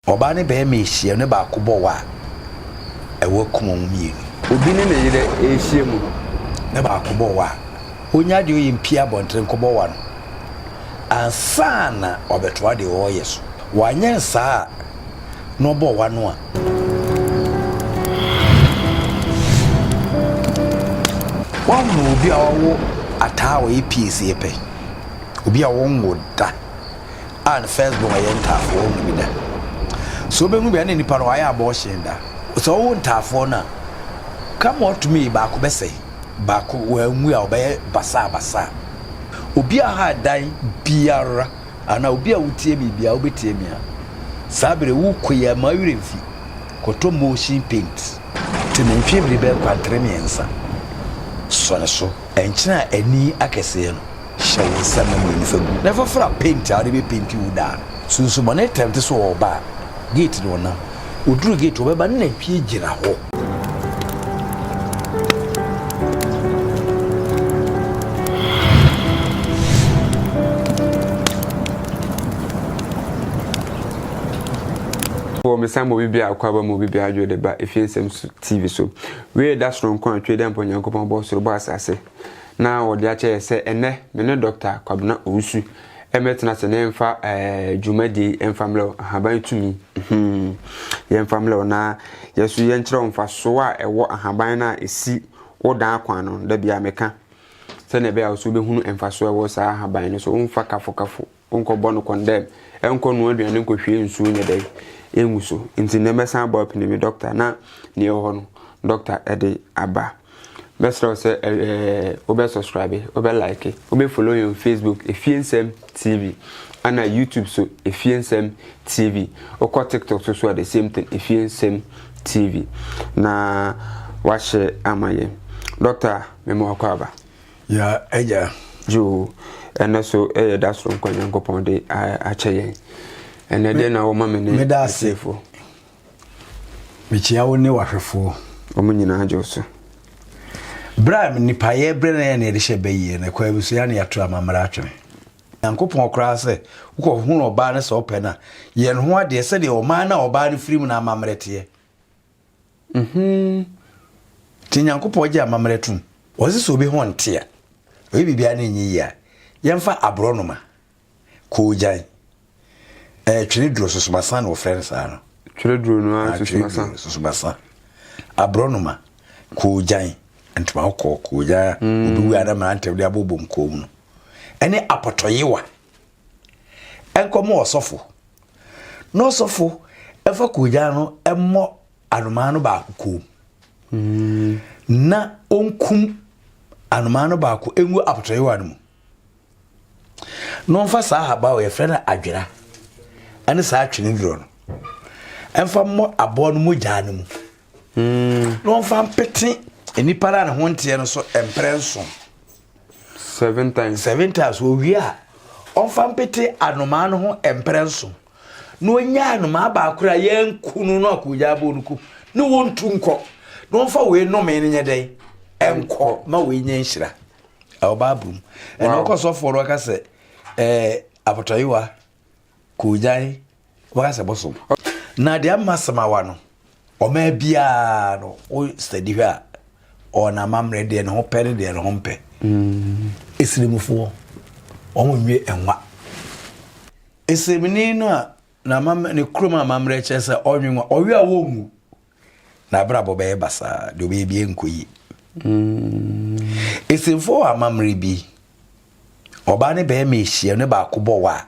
Ɔbaa ne barima rehyia mu ne baako bɔ wɔ a, ɛwɔ akum wɔn mmienu. Obi ne ne yere rehyia mu ne baako bɔ wɔ a, ɔnya deɛ ɔyɛ mpue abɔntene nkɔbɔ wɔ ano ansa na wabɛtoa deɛ ɔreyɛ so. Wanyɛ saa a, na ɔbɔ wɔ ano a. Woahunu obi a wawo ataa a ɔyɛ pie sɛ yɛpɛ obi a ɔnwo da? a ne first born yɛ ntaafoɔ ɔhu bi da sɛ wobɛhu bi a ne nipa no wayɛ abortion da sɛ ɔwo ntaafoɔ no a come what to me baako bɛsɛe baako wɔanwu a ɔbɛyɛ basaa basaa obi a ha dan biara ana obi a wotie mi biara wobɛtie mi a saa bere wo kɔ yi ama werɛ mfi kɔtɔ motion paint te ne mfeɛ bere bɛɛ kwantere mmiɛnsa sɔ ne so ɛnkyena ani akɛseɛ no Hyɛ wo nsa mmienu fa gu. Na fa fra penti a wode bɛpenti wo dan no. Sunsum ma no yɛ tɛmte sɛ ɔreba a, gate no ɔnam. Ɔduru gate hɔ, ɔbɛba ne nantwie gyina hɔ. Wɔ mesan bɔ obi biara akɔ aba ma obi biara adwo de ba efie nsɛm so TV so. Wei da soronko a Twɛdi ampa Onyankopɔn bɔɔ soro bɔɔ asase. na wɔde akyɛ yɛ sɛ ɛnɛ me ne Dɔkta Kwabena Owusu ɛmɛtena sɛ ne mfa ɛɛ dwumadie mfa mmerɛ wo ahaban tumi hmm. yɛ mfa mmerɛ wo na yɛ so yɛ nkyerɛ wo mfa so a ɛwɔ ahaban no a ɛsi wo dan akwan no da bia meka sɛnea ɛbɛyɛ a wo so wobɛhunu mfa so ɛwɔ saa ahaban no so womfa kafo kafo Wonkɔbɔ no kɔndɛm, ɛnkɔ noa aduane, nkɔhwie nsuo nyɛ dɛn, ɛngu so. Nti nnɛ mɛsan abɔ apini me dɔkta na neɛ ɛwɔ hɔ no dɔkta ɛde aba. Mɛsrɛ wo sɛ ɛɛ wobɛ subscribe, wobɛ like, wobɛ follow yɛn Facebook Efie Nsɛm TV ana YouTube so Efie Nsɛm TV. Wokɔ TikTok so so a the same thing Efie Nsɛm TV na wahyɛ ama yɛn. Dɔkta mema wakɔ aba. Yɛn Agya, Yiw, ɛnnɛ so yɛ da soronko a Nyankopɔn de akyɛ yɛn. Ɛnnɛ dɛn na wɔma me ne Meda ase. Mekyia wo ne w'ahwɛfoɔ. Wɔn nyinaa gye wo so. Berɛ a nnipa yɛ berɛ na yɛ na yɛde hyɛ bɛ yie no, ɛkwan bi so yɛ na yɛato amammerɛ atwene. Nyankopɔn koraa sɛ wokɔhunu ɔbaa no sɛ wopɛ no a, yɛ ne ho adeɛ sɛdeɛ ɔman no a ɔbaa no firi mu no amammerɛ teɛ. Mhmm nti Nyankopɔn gye amammerɛ tom? Wɔse sɛ obi ho nte a, ɔyɛ biribiara na ɛnyɛ yie a, yɛmfa aborɔnoma, koogyan, ɛɛ tweneduro, sosomasã na wɔfrɛ no saa no. Tweneduro no ara sosomasã. Tweneduro, sosomasã, aborɔnoma, koogyan, ntoma kɔkɔɔ, koogyan a obi wu a na mmeranteɛ de abobom kɔn mu no, ɛne apɔtɔyewa. nkɔmɔ ɔsɔfo na ɔsɔfo ɛfa koogyan no ɛmmɔ anomaa no baako kɔn mu na ɔnkum anomaa no baako ɛngu apɔtɔyewa no mu na ɔmfa saa ahaba a yɛfrɛ no adwera ɛne saa atwene duro no ɛmfa mmɔ aboa no mogyaa no mu na ɔmfa mpete nnipa no a ne ho nteɛ no so mprɛ nson seven times seven times owie a ɔmfa mpete anomaa no ho mprɛ nson na ɔnya anomaa baako a yɛnku no no akɔgya abɔ no ku ne wɔntu nkɔ na ɔmfa wei nnome no nyɛ dɛn ɛnkɔ ma wei nyɛ nhyira ɛwɔ baabolo mu ɛna ɔkɔ sɔfoɔ no ɔka sɛ ɛɛ abotɔyewa Kogyae waka sɛ bosom. Na deɛ ama samawa no ɔmaa biara no wo sɛdi hwɛ a ɔna amammerɛ deɛ ne ho pɛ ne deɛ ne ho mpɛ ɛsirimufoɔ mm. wɔn nwie nwa ɛsirimuni no a ne kurom amammerɛ kyerɛ sɛ ɔnwe nwa ɔwe a wɔnwu N'abrabɔ bɛyɛ basaa, deɛ ɔbɛyɛ bi ɛnkɔ yie. Esimfoɔ wɔ amammerɛ bi, ɔbaa ne bɛrima ahyia ne baako bɔ wɔ a,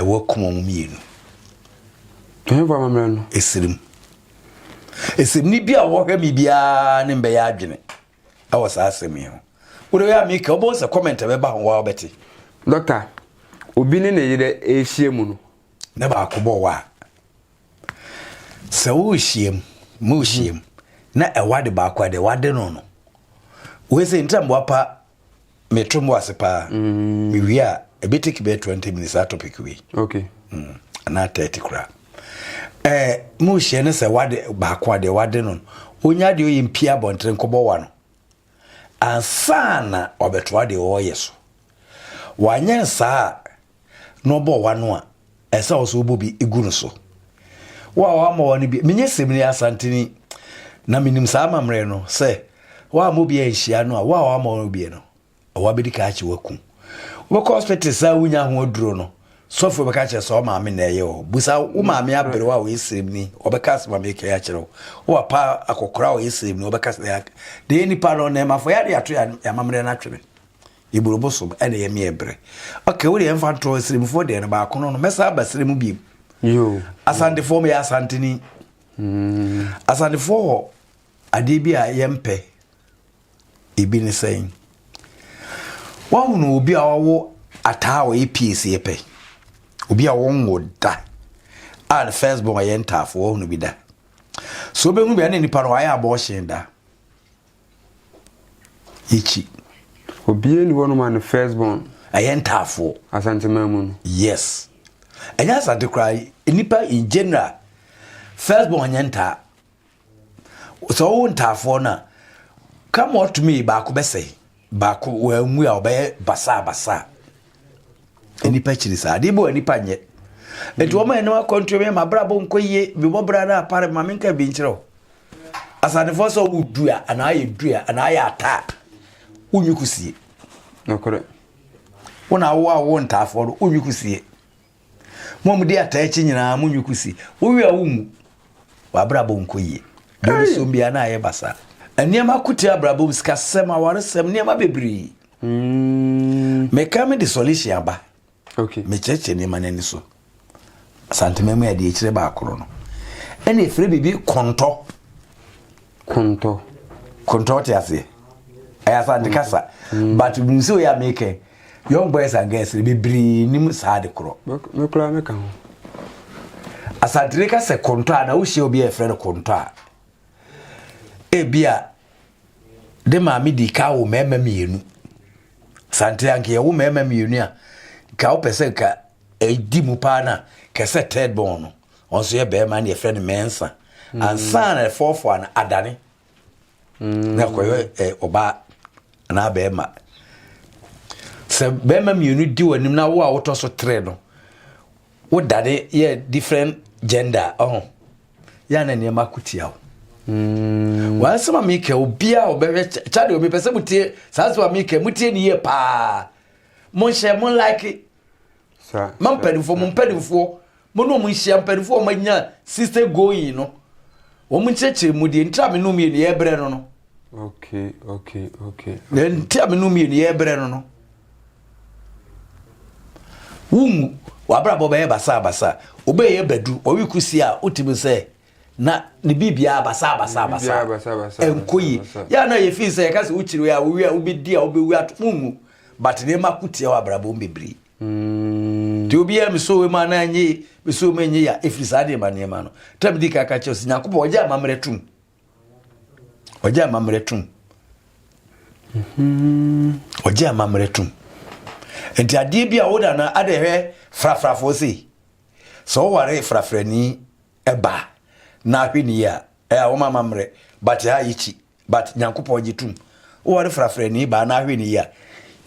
ɛwɔ akum wɔn mmienu. Ɛhɛnfo amammerɛ no? Esirim. Esirim ne bi a wɔhwɛ me biara ne mbɛyɛ adwene ɛwɔ saa asɛm yi ho. Wode wei a meka, wobɛhu sɛ comment ɛbɛba ho waa wobɛte. Dɔkta, obi ne ne yerɛ ɛrehyia mu no. Ne baako bɔ wɔ a. sɛ worehyiam morehyiam mhm. na ɛwɔ ade baako a deɛ wade no no wei sɛ ntra mmoa pa meto mmoa ase paa mm. mewie a ɛbɛ take bɛɛ 20 minutes a topic wei okay. mm. anaa 30 koraa eh, morehyia no sɛ wade baako a deɛ wade no no ɔnya deɛ ɔyɛ mpia abɔntere nkɔbɔ wa no ansa na wabɛtoa deɛ ɔreyɛ so. Wanyɛ no saa a, na ɔbɔ w'ano a, ɛsɛ sɛ wo nso wobɔ bi gu no so. Wo a wammɔ w'ano bi, menyɛ Semini Asanteni na menim saa amammerɛ no sɛ woammɔ bi anhyia no a, wo a wammɔ w'ano bi no, ɛwɔ abɛdi ka akye waku. Wobɛkɔ hospital saa wonya ho aduro no, Sɔfoɔ bɛka akyerɛ sɛ ɔmaame na ɛyɛ o. Busa wo maame aberewa a ɔyɛ sremni, ɔbɛka asɛm a meka yi akyerɛ wo. Wo papa akɔkora a ɔyɛ sremni, ɔbɛka sɛ ɛyɛ na ɛyɛ nipa no na ɛmafo yare ato yɛ amammerɛ no atwene. Eburo bosom ɛna ɛyɛ meɛ berɛ. Ɔka wo deɛ ɛmfa ntorɔ sremfoɔ deɛ no baako no no mɛsa aba srɛ mu biem. Asantefoɔ meyɛ asanteni. Hmm. Asantefoɔ hɔ adeɛ bi a yɛmpɛ. Ebi ne sɛn? Woahunu obi a ɔwɔ ataa a ɔyɛ piesi yɛ pɛ? Obi a wɔnwo da a ne first born yɛ ntaafo, woahunu bi da? So wobɛhunu bi a na nipa no wayɛ abɔɔhyen da? Yɛkyi. Obiara ni hɔnom a ne first born. Ɛyɛ ntaafoɔ. Asanteman mu no. Yes. Ɛnyɛ asante koraa, nipa in general, first born nyɛ ntaa. sɛ ɔwo ntaafoɔ no a come what may baako bɛsɛe baako wɔanwu a ɔbɛyɛ basaa basaa nnipa kyiri saa adeɛ bi wɔ nnipa nyɛ nti wɔn a ɛnam akɔntuo mi ma abrabɔ nkɔ yie bibɔ bra no apare ma menka bi nkyerɛ wo asanefoɔ sɛ ɔwo dua anaa yɛ dua anaa yɛ ataa wonwi kusie nokorɛ wona awoa wo ntaafoɔ no wonwi kusie Mo a mudi ataa akyi nyinaa, munnwi kusi. Wowe a wummu. W'abrabɔ nkɔ yie. Deɛ ɔresom biara na ayɛ basaa. Nneɛma ko tia abrabɔ sikasɛm, awaresɛm, nneɛma bebree. Mm. Meka me de solution aba. Okay. Mekyerɛkyerɛ nneɛma no ani so. Asantema mu adeɛ akyire baakoro no. Ɛna ɛfiri biribi kɔntɔ. Kontɔ. Kontɔ ɔte aseɛ ɛyɛ asante kasa mm. but nim sɛ oyɛ a mekɛ young boys and girls no bebree nim saa de korɔ mekora meka ho asantene ka sɛ kontɔ a na wohyia obi a ɛfrɛ no kontɔ a ebi a de maame di ka wo mmarima mmienu sante anka yɛwo mmarima mmienu a ka wopɛ sɛ ka ɛdi mu paa no a kɛsɛ third born no ɔno nso yɛ bɛrima na yɛfrɛ no mɛnsa mm. ansa na ɛfɔɔfɔɔ no adane mm. na ɛkɔyɛ eh, ɔbaa anaa bɛrima sɛ bɛrima mmienu di w'anim na wo a wotɔ so tere no wodane yɛ different gender ɔho yɛ ana nneɛma ko tia wo mm. wansɛm a meka obiaa ɔbɛhwɛ kyade omi pɛ sɛ motie saa sɛm a meka motie ne yie paa monhyɛ mo like mampanimfoɔ mo mpanimfoɔ Mo ne wɔn nhyia, mpanimfoɔ a wɔanya sister going no, wɔn nkyerɛkyerɛ mu deɛ nti a me ne wɔn mmienu yɛrebrɛ no no. Okay, okay, okay. Deɛ nti a me ne wɔn mmienu yɛrebrɛ no no. Wonwu, w'abrabɔ bɛyɛ basabasa, wobɛyɛ badu, wɔwe kusi a wotumi sɛ na ne biribiara basabasa basa ɛnkɔ yi. Yɛ a na yɛ fii sɛ yɛka sɛ wokyiri a wowie a wobɛdi a wobɛwu ato, wonwu. But nneɛma ko tia w'abrabɔ bebree. Mm. Nti obi a mesoo mu anaa nye mesoo mu enye ya efiri saa deɛ ma nneɛma no tɛm di kaka kyɛw si nyankopɔ ɔgye amammerɛ tum ɔgye amammerɛ tum ɔgye amammerɛ tum nti adeɛ bi a woda no ada ɛhwɛ frafrafoɔ sei sɛ woware frafrani ɛba na ahwɛ ni a Ɛa wɔma amammerɛ but ɛa yɛkyi but Nyankopɔn gye tum. Woware frafrani baa na ahwɛ ne yie a,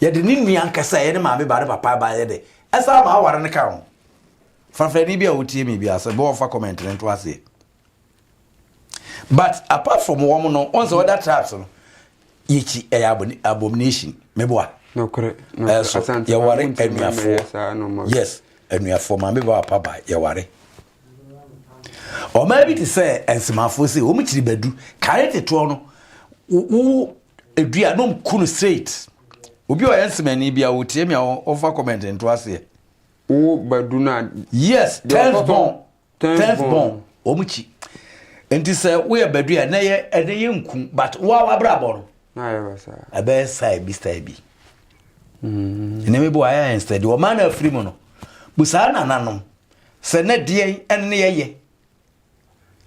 yɛde ne nua ankasa a ɛyɛ ne maame baa ne papa baa yɛde ɛsan ma aware no ka ho. Frafrani bi a wotie me biara sɛ bɔ ɔmfa comment no nto aseɛ. But apart from wɔn no, wɔn sɛ other tribes no, yɛkyi ɛyɛ abomination. Meboa. Nokorɛ. Ɛso yɛware anuafoɔ. Yes, anuafoɔ maame baa papa baa yɛware. Ɔmaa bi te sɛ Nsimafoɔ sei, wɔn kyiri badu, kare tetoɔ no, wo edua no nku no straight. Obi ɔyɛ Nsimani bi a wɔtie mi a wɔfa comment nto aseɛ. Wo badu no a. Yes, tens bɔn, tens bɔn, wɔn kyi. Nti sɛ woyɛ badu a, ɛnɛ yɛ ɛnɛ yɛ nku, but wo a wabrabɔ no. Na ayɛ basa. Ɛbɛyɛ style bi style bi. Mm-hmm. Nneɛma bi wɔ ayɛ ayɛ steady, wɔn a na afiri mu no, busaa nananom. sɛ na deɛn ɛne yɛyɛ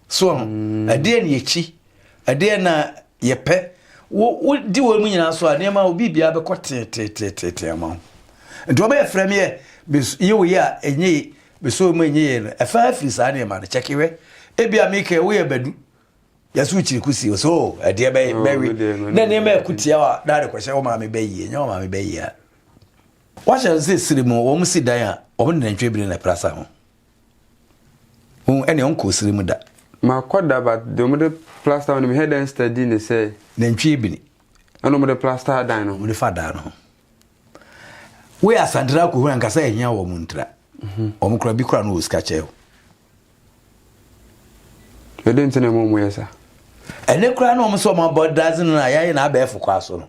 so ho mm. ɛdeɛ ne yɛkyi ɛdeɛ na yɛpɛ wodi wɔ mu nyinaa so a nneɛma wo biribia bɛkɔ teeteeteetee ma wo nti wɔbɛyɛ frɛ me yɛ yɛ wo yɛ a ɛnyɛ yi bɛsɛ mu ɛnyɛ yɛ no ɛfa afiri saa nneɛma no kyɛke wɛ ebi a mekɛ woyɛ badu yɛsɛ wokyiri ko si so oh, ɛdeɛ bɛwe na nneɛma ɛko tia a na de kɔhyɛ wo maame bɛyie nyɛ wo maame bɛyie a Wɔahyɛ no sɛ serɛ mu wɔsi dan a wɔde nantwie bere na ɛpra sa ho. Hu ɛnea ɔnkɔɔ serɛ mu da. Makɔ da but deɛ wɔde plaster no mehwɛ dɛn study ne sɛ. Nantwie bini. Ɛna wɔde plaster dan no. Wɔde fa dan no ho. Wei asantera akɔhu anka sɛ ɛhia wɔn ntra. Wɔn kora bi kora no wɔ sika kyɛ. Ɛdɛn nti na ɛma wɔn yɛ saa? Ɛnɛ koraa na wɔn sɛ wɔn abɔ dadze no na yɛayɛ no abɛɛfo kwa so no.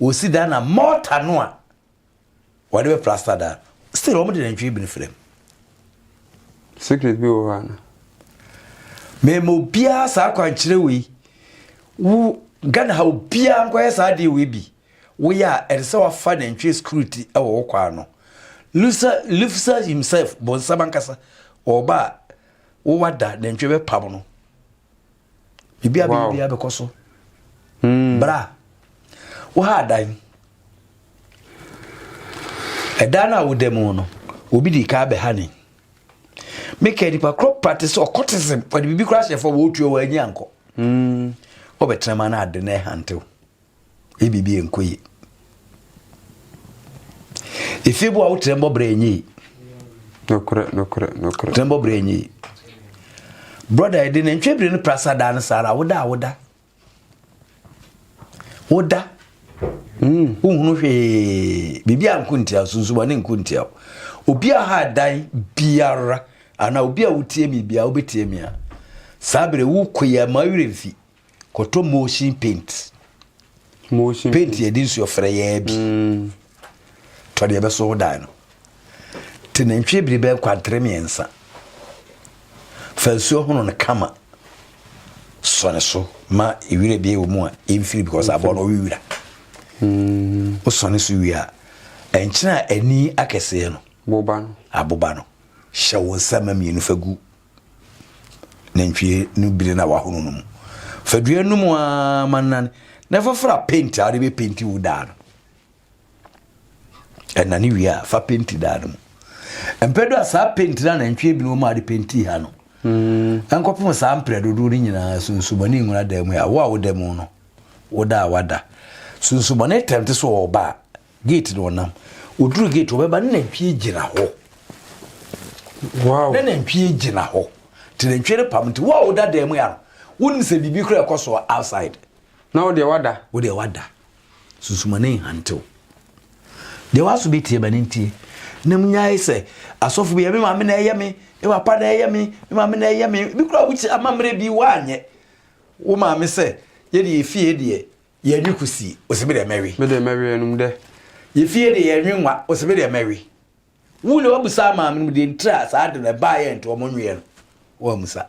Wɔsi dan na mɔɔta no a wɔde bɛ plasta dan no, still wɔn de nantwie bi no fira mu. Secret bi wɔ hɔ ana? Mɛma obiara saa akwankyerɛ wei. Wo Ghana ha obiara nkɔyɛ saa adeɛ wei bi. Woyɛ a, ɛsɛ sɛ woafa nantwie security wɔ wo kwaa no. Lusa, Lufsa himself, bonsam ankasa, ɔɔba a, wo wa da, nantwie bɛ pam no. Bibi a bɛyɛ biara bɛkɔ so. Hmm. Bra. Wo ha adan. Ɛdan no a woda mu no, obi di kaa bɛ ha ne. Meka nipa korɔ pate sɛ ɔkɔtism, ɔde bibi korɔ ahyɛ fɔ, wɔɔtua wɔanyi ankɔ. Hmm. Ɔbɛtena ma no ade na ɛhantew. Eyi biribi yɛ nkɔ yie. Efie bo a wotrɛ mbɔ brɛ enye yi. Nokorɛ nokorɛ nokorɛ. Trɛ mbɔ brɛ enye yi. Brɔda yɛde ne ntwe bere ne prasa daa no saa ara woda a woda. Woda. Mm. Wohunu hwee. Biribi a nko ntia sunsuma ne nko ntia. Obi a ha dan biara ana obi a wotie mi biara wobɛtie mi a saa bere wokɔ yi a ma werɛ mfi. Kɔtɔ motion paint. Motion paint. Paint yɛde nsuo frɛ yɛɛ bi. Mm. Tɔ deɛ ɛbɛso ho dan no. Te nantwie biri bɛn kwantere mmiɛnsa. Fa nsuo hono no kama. Sɔ ne so ma ewira bi wɔ mu a ɛmfiri because abɔ no ɔwe wira. Mm. Wosɔ ne so wie a ɛnkyerɛ a ani akɛseɛ no. Boba no. Aboba no. Hyɛ wo nsa ma mmienu fa gu nantwie no biri na wahono no mu fa dua no mu aa ma nane na fafra penti a wode bɛ penti wo daa no ɛnane wie a fa penti daa no mu mpɛ do a saa penti na nantwie bi no mu a de penti ha no hmm. ɛnkɔpem saa mprɛ dodoɔ no nyinaa sunsumane nwura da mu a wo a woda mu no woda a wada sunsumane tɛmte so ɔba a Gate no ɔnam. Ɔduru gate ɔbɛba ne nantwie gyina hɔ. Wow. Ne nantwie gyina hɔ. Te nantwie no pam nti wo a woda dan mu ya no wonim sɛ biribi kora ɛkɔ so outside. Na wo deɛ wada. Wo deɛ wada. Sunsumane nhantew. Deɛ waso bi tie bɛne ntie. Na mu nyae sɛ asɔfo bi yɛ me maame na ɛyɛ me, me papa na ɛyɛ me, me maame na ɛyɛ me. Bi kora wokyi amammerɛ bi woanyɛ. Wo maame sɛ yɛde efie deɛ Yɛnwe kusi, ose me de mɛwe. Me de mɛwe ɛnum dɛ. Yɛ fie de yɛnwe nwa, ose me de mɛwe. Wu na wabisa ama me no deɛ ntira a saa de no ɛbaa yɛ nti wɔn nweɛ no wɔamusa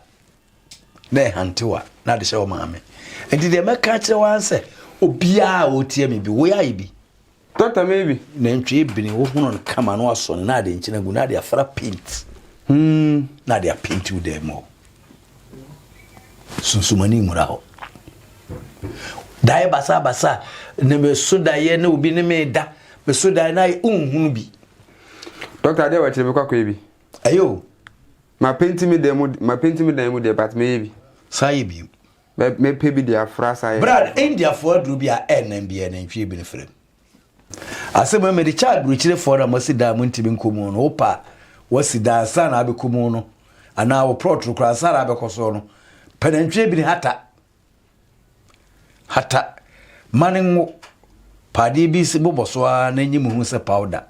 na ɛhante wa na de hyɛ wɔn maame nti deɛ mɛka akyerɛ wɔn sɛ obiara a ɔtia me bi wo yɛ ayɛ bi Doctor me bi. Nantwi ebini wo hono no kama no aso na ade nkyina gu na ade afra paint. Hmm. Na ade apaint wo dɛ mo. Sunsumani mura ho. Dae basa basa ne me so dae ne obi ne me da. Me so dae na unhunu bi. Doctor ade wa kyerɛ me kwakɔ bi. Ayo. Ma paint me dɛ mo ma paint me dan mu dɛ but me ye bi. Sa ye bi. Mɛ mɛpɛ bi de afra saa yɛ. Bere a na Indiafoɔ aduru bi a ɛnnan biara nantwie bi no fira mu. Asɛm a mede kyɛ adurukyerefoɔ no a moasi dan a montumi nkɔ mu no, wopɛ a woasi dan ansa na abɛkɔ mu no anaa woplɔtoro koraa ansa na abɛkɔ so no, pɛ nantwie bi ne hata. Hata. Ma no nwo. Pa adeɛ bi si bobɔ so ara na nyi mu ho sɛ powder.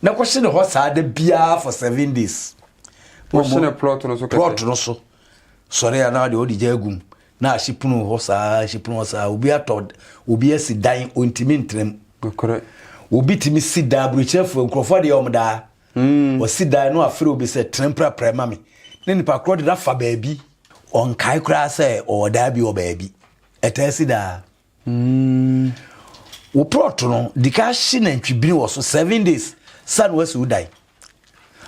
Na kɔhye ne hɔ saa da biara for seven days. Kɔhye ne plot no so kɛse. Plot no so. Sɔre a na ɔde ɔde gya agum na ahye pono hɔ saa ahye pono hɔ saa obi atɔ obi asi dan ontimi ntenam. Nokorɛ. Obi tumi si dan aburokyerɛfoɔ nkurɔfoɔ deɛ wɔn daa. Mm. Wɔsi dan no afere obi sɛ tena mprapra ma me ne nipa korɔ de no afa baabi. Ɔnkae koraa sɛ ɔwɔ daa bi wɔ baabi. Ɛtaa si daa. Mm, wo prɔt no, di ka hye nantwibini wɔ so seven days sa na wasi wo dan.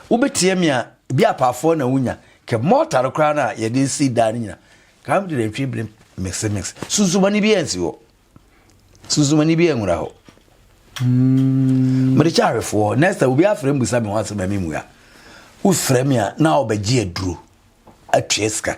Wobɛtia mi a, ebi apaafoɔ na wonya. Kɛ mɔta no koraa na yɛde si dan no nyina. Ka mede nantwibini mix mix. Sunsumani bi ansi hɔ. Sunsumani bi anwura hɔ. Mm. Mede kyɛ ahwɛfoɔ. Next time, obi afrɛ mbusa me ho asɛm a memmua. Wofrɛ me a, na ɔbɛgye aduro atua sika.